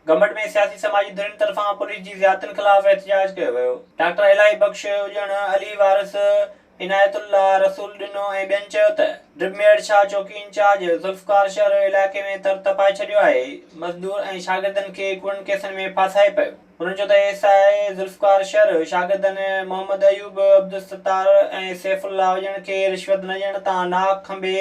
گمبٽ ۾ سياسي سماجي ڌرين طرفان پوليس جي زيادتين خلاف احتجاج ڪيو ويو. ڊاڪٽر الاهي بخش اڄڻ، علي وارث، عنايت الله، رسول ڏنو ۽ ٻين چيو ته ڊپ ميئڙ شاهه چوڪي انچارج ذوالفقار شهر علائقي ۾ تر تپائي ڇڏيو آهي، مزدور ۽ شاگردن کي ڪوڙن ڪيسن ۾ ڦاسائي پيو. هنن چيو ته ايس آء اي ذوالفقار شهر شاگردن محمد ايوب، عبدالستار ۽ سيف الله اڄڻ کي رشوت نه ڏيڻ تان ناحق کنڀي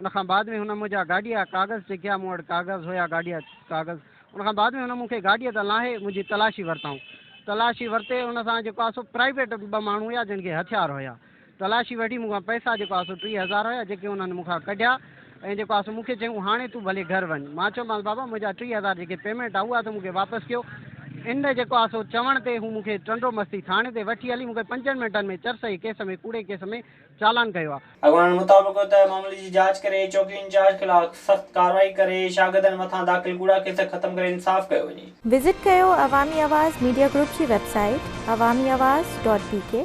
ان کان بعد ۾ هن منهنجا گاڏيا ڪاغذ چيڪيا، مون وٽ ڪاغذ هيا گاڏيا ڪاغذ، ان کان بعد ۾ هن مون کي گاڏيء تان لاهي منهنجي تلاشي ورتائون، تلاشي ورتي ان سان جيڪو آهي سو پرائيويٽ ٻه ماڻهو هيا جن کي هٿيار هيا، تلاشي وٺي مون کان پئسا جيڪو آهي سو ٽيهه هزار هيا جيڪي انهن مون کان ڪڍيا ۽ جيڪو آهي سو مون کي چيائون هاڻي تون ڀلي گهر وڃ، مان چيومانس بابا منهنجا ٽيهه هزار جيڪي پيمينٽ آهي اها ته مون کي واپس ڪيو، ان جيڪو آهي سو چوڻ تي هو مون کي ٽنڊو مستي ٿاڻي تي وٺي هلي مون کي پنجن منٽن ۾ چرسئي ڪيس ۾ ڪوڙي ڪيس ۾ چالان ڪيو آهي. اڳواڻن مطابق ته معاملي جي جاچ ڪري چوڪي انچارج خلاف سخت ڪارروائي ڪري شاگردن مٿان داخل ڪوڙا ڪيس ختم ڪري انصاف ڪيو وڃي. وزٽ ڪيو عوامي آواز ميڊيا گروپ جي website Awami Awaz dot بي ڪي.